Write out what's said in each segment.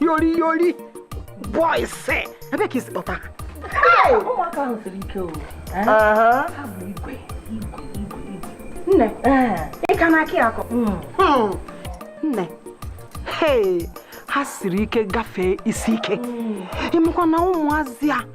yori yori boys ebe ka i si kpọta ụmụaka ahụ siri ike o ha bụ igwe igwe igwe igwe nne ị ka na-akọ akọ nne ha siri ike gafee isi ike ị makwa na ụmụazị a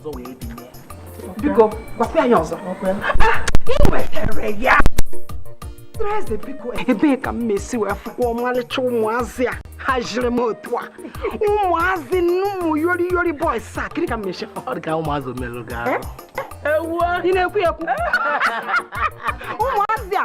ọzọ wee binye biko gwakwa anyị ọzọ ị nwetara ya eze biko ebee ka m mesi wee fụkwa ọmalịcha ụmụazị a ha jiri m otu a ụmụazị ụmụ yori yori boys a kiri ka m mesi ọ dị ka ụmụazị omelụ gị arụ ị na-ekwu ekwu ụmụazị a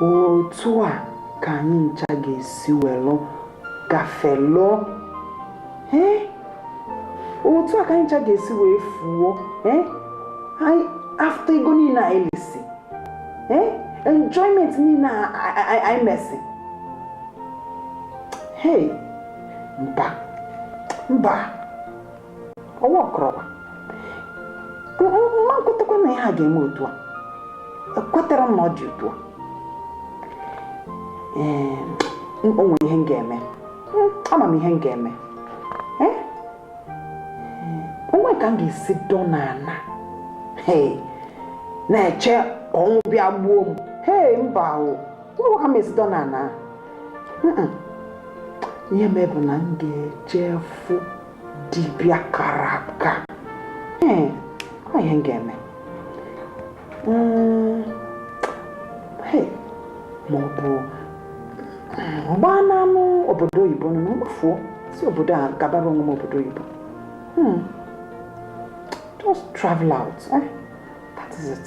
otu a ka anyị ncha ga-esi welụ gafelụọ ee otu a ka anyị ncha ga-esi wee fuo ee after ego niile anyị lisi ee enjoyment niile anyị mesi hey mba mba ọwa ọkọrọba m ma-ekwetakwa na ihe a ga-eme otu a ekwetara m na ọ dị otu a o nwere ihe m ga-eme hmm, ama m ihe m ga-eme eh? o nwe ka m ga-esi dọ n'ala na-eche ọnwụ bịa gbuo m hee mba o o nwe ka m esi dọ n'ala ihe m bụ na m ga-eje fụ dibịa kara aka ee ọ ihe m ga-eme Mm, hey, ma ọ bụ m gbanaanụ obodo oyibo nọ m gbafuo si obodo a gabara onwe m obodo oyibo Hmm. just travel out eh? that is it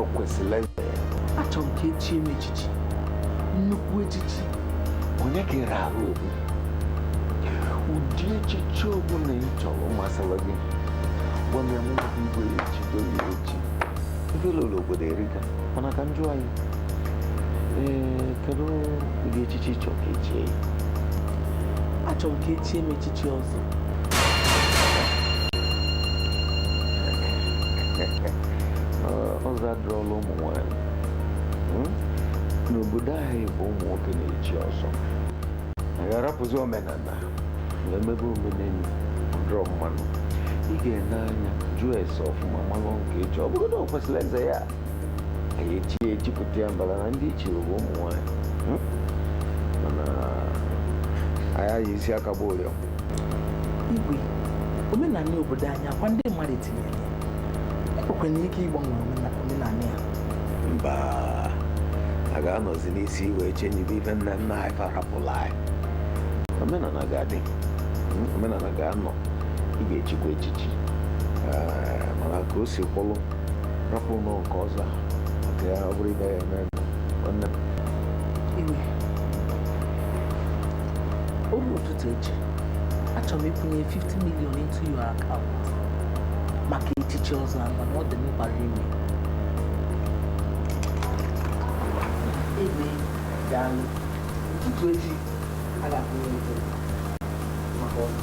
o kwesịrị eze achọrọ m ka e chie m echichi nnukwu echichi onye ka ịra ahụ okwu ụdị echichi ọbụla ị chọrọ masịrị gị gwa m ya mụ na gị igwe echido gị echi ife ị lụrụ obodo erika mana ka m jụọ gị ee kedu ụdị echichi ị chọrọ ka e chie ya achọrọ m ka e chie m echichi chi ọzọ ọzọ adịrọlụ ụmụ nwanyị hmm? n'obodo anyị bụ ụmụ nwoke na-echi ọzọ a gharapụzi omenala na-emebe omenelu dịrọ mma nụ ị ga-ene anya jụọ ese ọfụma malụ nke echi ọ bụrụ na ọ kwesịrị eze ya anyị echi echipụta ya mbala na ndị ichie bụ ụmụ nwanyị hmm? mana anyị aghaghị isi aka bụ ụrịọ igwe omenala obodo anyị ọ kwa ndị mmadụ tinyere ya e nwekwara ike ịgbanwe omena- omenala ya mba a ga-anọzi n'isi wee chenjibe ife nna nna anyị fa rapụla anyị omenala ga-adị Mm, omenala ga-anọ ị ga-echikwa echichi Eh, mana ka o si kwụlụ rapụlụ nke ọzọ nke ya ọ bụrụ ife ya eme nwanne m iwe o ruo ụtụtụ echi achọrọ m ịkwụnye 50 million into your account maka echichi ọzọ ahụ na ọ dị mkpa ime igwe daalụ ụtụtụ echi a ga-akwụnye ego maka ọzọ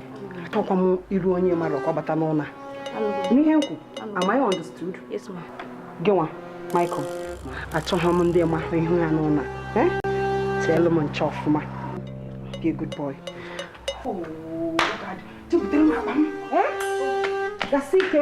achọkwa m iru onye mmadụ ka ọ bata n'ụlọ n'ihe m kwu am I understood gị nwa Michael achọghị m ndị ma ihu ha n'ụlọ eh? cheelụ m nche ọfụma be a good boy oh, eh? gasị ike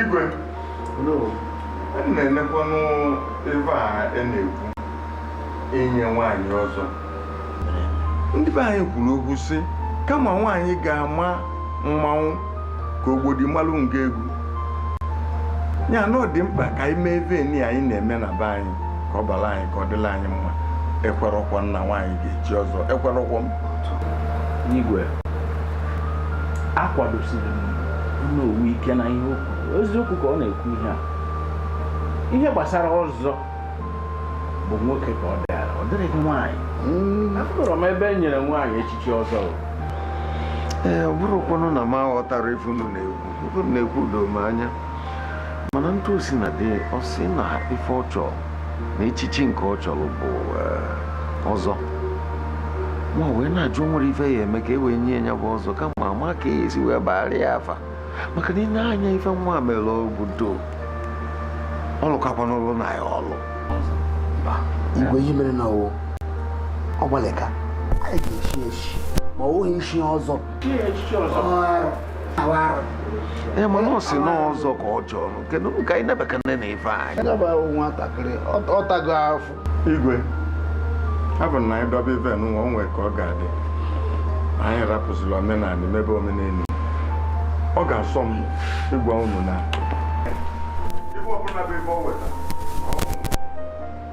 igwe na-enekwanụ ebe a e na-ekwu inye nwaanyị ọzọ ndị be anyị kwuru okwu sị kama nwaanyị ga-ama mmanwụ ka ogbodi malụ nga egwu ya na ọ dị mkpa ka anyị mee ive nị anyị na-eme na be anyị ka ọ bara anyị ka ọ dịla anyị mma ekwerọkwa m na nwaanyị ga-echi ọzọ ekwerọkwa m igwe akwadosiri m Onowu ike na ihe o kwu eziokwu ka ọ na-ekwu ihe a ihe gbasara ọzọ bụ nwoke ka ọ dịara ọ dịrịghị nwaanyị hmm. afụrọ m ebe e nyere nwaanyị echichi ọzọ ee ọ bụrụkwanụ na m aghọtara ife unu na-ekwu ife unu na-ekwu doo m anya mana otu o sina dị ọ sị na ife ọ chọrọ na echichi nke ọ chọrọ bụ eh, ọzọ m wee na-ajụ o nwere ife ya eme ka e wee nye ya bụ ọzọ kama ama ka e esi wee gbaara ya afa maka na i nee anya ife nwa mere obodo ọ lụkakwa n'ụlọ na ya ọlụ igwe ihe mere na ọ wụ ọ gbalịka anyị ga-echi echi ma ọ wụghị ichi ọzọ Ee, mana ọ sị na ọzọ ka ọ chọrọ kedu m ka anyị nebakene na ife anyị agaba ahụ nwatakịrị ọ tago afọ igwe ọ bụ na anyị dobe ive nwa o nwee ka ọ ga-adị anyị rapụzila omenala mebe omenelu ọ ga-asọ m ịgwa unu na ife ọbụla bụ ife o weta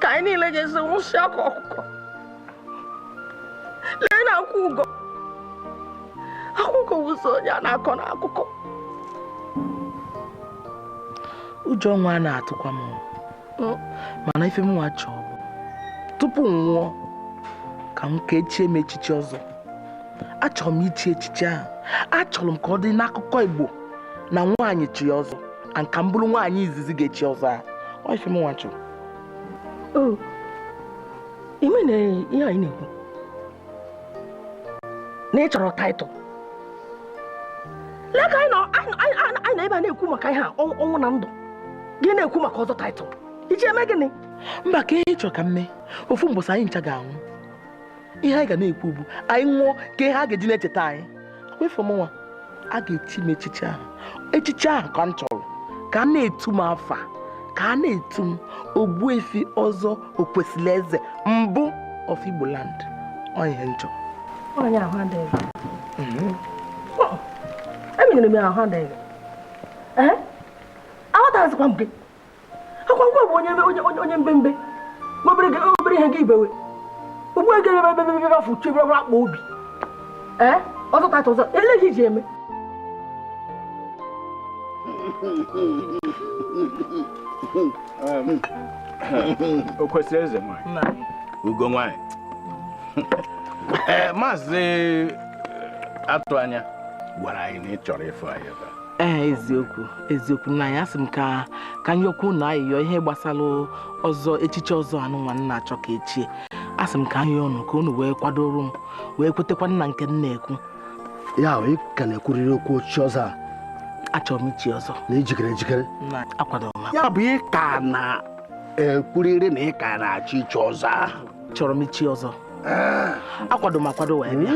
ka anyị niile ga-esi nwụsị ka ọkụkọ lee na akwụ ụgọ akụkọ wụsọ onye a na-akọ n'akụkọ ụjọ nwa a na-atụkwa m mana ife mụnwa chọrọ bụ tupu m nwụọ ka m ka e chie m echichi ọzọ achọrọ m ichi echichi ahụ achọrọ m ka ọ dị n'akụkọ Igbo na nwaanyị chi ọzọ and ka m bụrụ nwaanyị izizi ga-echi ọzọ a ọ ife mụnwa chọrọ o ime na ihe anyị na-ekwu na ị chọrọ taịtụl lee ka anyị nọ anyị- anyị anyị- anyị nọ ebe a na-ekwu maka ihe a ọnwụ ọnwụ na ndụ gị na-ekwu maka ọzọ taịtụl ị ji eme gịnị mba ka ihe ị chọrọ ka m mee ofu mbọsị anyị ncha ga-anwụ ihe anyị ga na-ekwu bụ anyị nwụọ ka ihe a ga-eji na-echeta anyị bụ ife mụnwa a ga-echi m echichi ahụ echichi ahụ ka m chọrọ ka a na-etu m afa ka a na-etu m ogbuefi ọzọ okwesili eze mbụ of Igbo land ọ ihe m chọrọ onye ahụ adịghị mhm. emenyere m ahụ adịghị aghọtaghịzikwa m gị ọ kwa gịnwa bụ onye onye onye mbembe obere obere ihe gị ebewe ugbu a gere ebe ebe afọ uche ebe akpa obi ee ọzọ taịtụl ọzọ olee ihe ị ji eme okwesili eze nwanyị ugo nwanyị maazị Atụanya gwara anyị na ị chọrọ ịfụ anyị ebe a ee eziokwu eziokwu nna anyị asị m ka ka m yọkwa unu ayịyọ ihe gbasara ọzọ echichi ọzọ anụnwa m na-achọ ka e chie asị m ka m yọọ unu ka unu wee kwadoro m wee kwetekwa na nke m na-ekwu ya bụ ị ka na-ekwurịrị okwu ochichi ọzọ a achọrọ m ichi ọzọ na ị jikere ejikere nna akwadoro m ya bụ ị ka na-ekwurịrị na ị ka na-achọ ichi ọzọ ahụ chọrọ m ichi ọzọ akwado m akwado wee bịa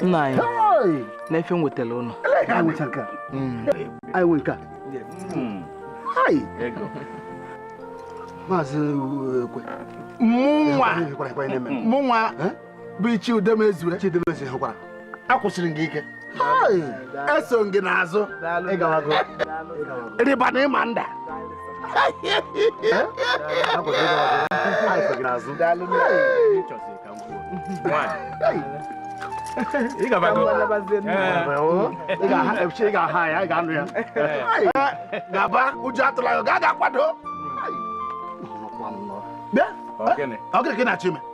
nna anyị nee ife m wetara ụnụ maazị ekwe mụnwa mụnwa bụ ichie udemezue hụkwara akwụsịrị gị ike eso m gị n'azụ rịba na ị ma nda ị ga-aha ya ị ga-anụ ya gaba ụjọ atụla ya gaa ga kwado Ọ gịnị ka ị na-achọ ime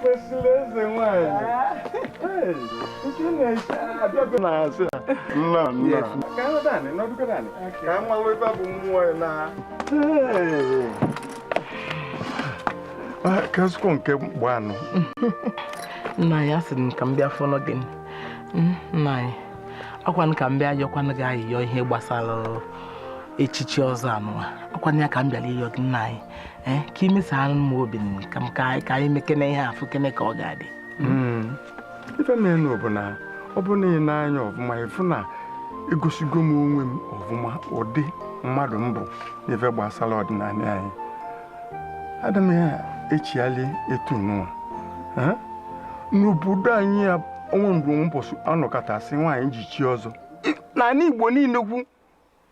kwesịrị eze nwanyị na-asị nna nna ka nwa weba bụ mmụọ ya na kasịkwa nke mgbanụ nna anyị asị m ka m bịa fụnụ gị Mm, nna anyị ọkwanụ ka m bịa yọkwanụ gị ayịyọ ihe gbasara echichi ọzọ anụwa ọkwanụ ya ka m bịara ịyọ gị nna anyị ee ka i mesara m obi m ka m ka anyị- ka anyị mekene ihe a fụkene ka ọ ga-adị Mm. ife menụ bụ na ọ bụ na i nee anya ọfụma ị fụ na egosigo m onwe m ọfụma ụdị mmadụ m bụ n'ife gbasara ọdịnala anyị ada m ya echiali etu nụwa n'obodo anyị a o nwe mgbe mbọsị a nọkata sị nwaanyị je chie ọzọ n'ala Igbo niile kwu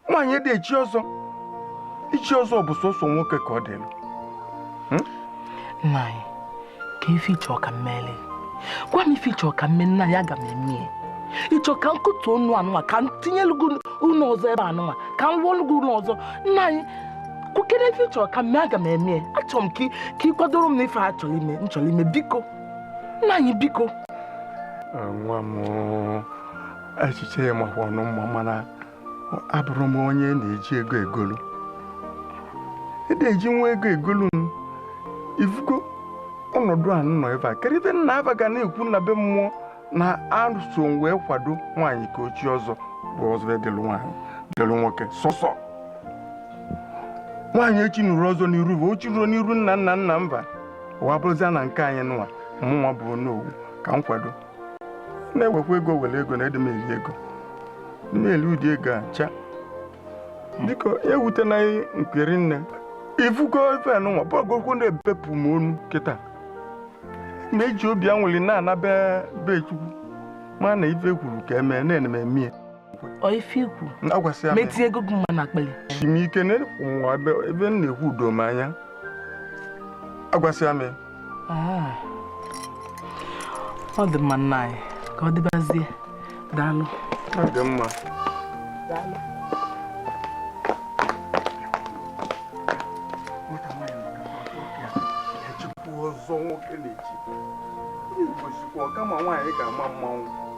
nwaanyị adị echi ọzọ ichi ọzọ bụ sọsọ nwoke ka ọ dịlụ nna anyị kee ife ị chọ ka m meli gwa m ife ị chọ ka m mee nna anyị aga m eme ya ị chọ ka m kụtuo ụnọ anụnwa ka m tinyelu gị ụnọ ọzọ ebe anụnwa ka m rụọlụ gị ụnọ ọzọ nna anyị kwukere ife ị chọ ka m mee aga m eme ya achọrọ m ka ị kwadoro m na ife a chọrọ ime m chọrọ ime biko nna anyị biko nwa m echiche ya makwanụ mma mana abụrọ m onye na-eji ego egolu adị eji nwa ego egolu m ị fụgo ọnọdụ a nọ ebe a kedu ife nna m ba ga na-ekwu na be mmụọ na aso wee kwado nwaanyị ka o chie ọzọ bụ ọzọ adịlụ nwaanyị dịlụ nwoke sọsọ nwaanyị echinurọ ọzọ n'iru bụ o chirọ n'iru nna nna nna m ba ọ wa bụrụzia na nke anyị nụwa mụnwa bụ Onowu ka m kwado na-ewekwa ego were ego na adị m eri ego adị m eri ụdị ego a cha biko ewute na nkiri nne ị fụgo ife nụnwa ọ bụgokwu na e bepụ m onu kịta m eji obi anwụli na-anaba be Chukwu mana ife i kwuru ka e mee na-eme emie wetinye ego gị nwa n'akpa gị chimike ebe m na-ekwu udo m anya agwasịa m ah. ọ dị mma nna anyị ka ọ dịbazie daalụ ọ dị mma ọzọ nwoke na-echi Igbo sịkwa ọkama nwaanyị ga-ama mmanwụ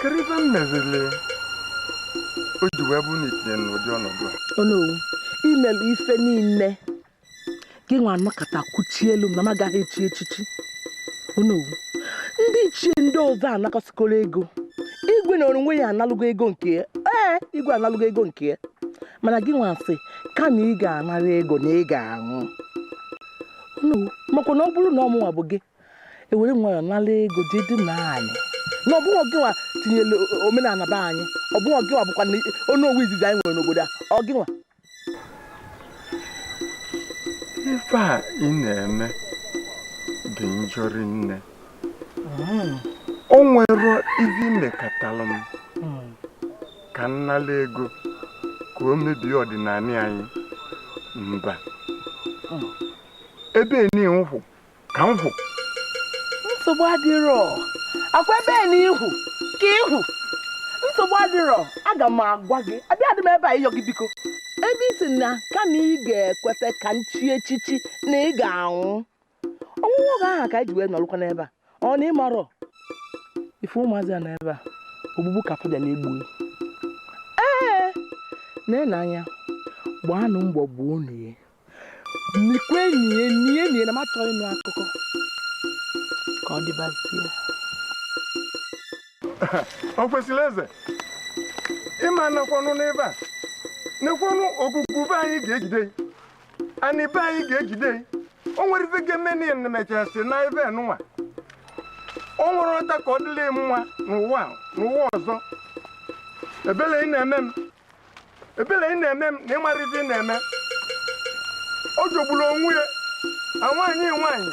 kedu ife m mezili o ji wee bụrụ na itinye n'ụdị ọnọdụ a onowu imelụ ife niile gị nwa anọkata kwuchielụ m na m agaghị echi echichi onowu ndị ichie ndị ọzọ anakọsikọrọ ego igwe n'onwe ya analụgo ego nke ya ee igwe analụgo ego nke ya mana gị nwa sị kama ị ga-anara ego na ị ga-anwụ onowu makwa na ọ bụrụ na ọ mụnwa bụ gị ewere nwayọ nala ego jee dị na anyị na ọ bụghị gịnwa tinyere omenala be anyị ọ bụghị gịnwa bụkwa onowu izizi anyị nwere n'obodo a ọ gịnwa ife a ị na-eme dị njọ rinne o nwere ife imekatalụ m ka m nala ego ka o mebie ọdịnanị anyị mba ebe n'ihu ka m hụ nsogbu adịrọ akwa ebe n'ihu ka ị hụ nsogbu adịrọ aga m agwa gị abịa dị m ebe a ịyọ gị biko ebe ị sị na kama ị ga-ekweta ka m chie echichi na ị ga-anwụ ọnwụnwụ oge ahụ ka anyị ji wee nọrụkwa n'ebe a ọ na ịmarọ ife ụmụazị a n'ebe a ogbugbu ka fa ga na-egbu ee na-ele anya gbaanụ mbọ gbuonụ ya nikwe nie nie nie na m achọghị ịnụ akụkọ ka ọ dịbazie o kwesịrị eze ịma nakwanụ n'ebe a nekwanụ ogwugwu be anyị ga-ejide gị anị be anyị ga-ejide gị o nwere ife ga-eme n'ife na-emechasị n'ebe nụnwa o nwerọ ọta ka ọ dịlị gị mma n'ụwa n'ụwa ọzọ ebele gị na-eme m ebele gị na-eme m na ịmarọ ife ị na-eme ọ jọgburu onwe ya nwaanyị nwaanyị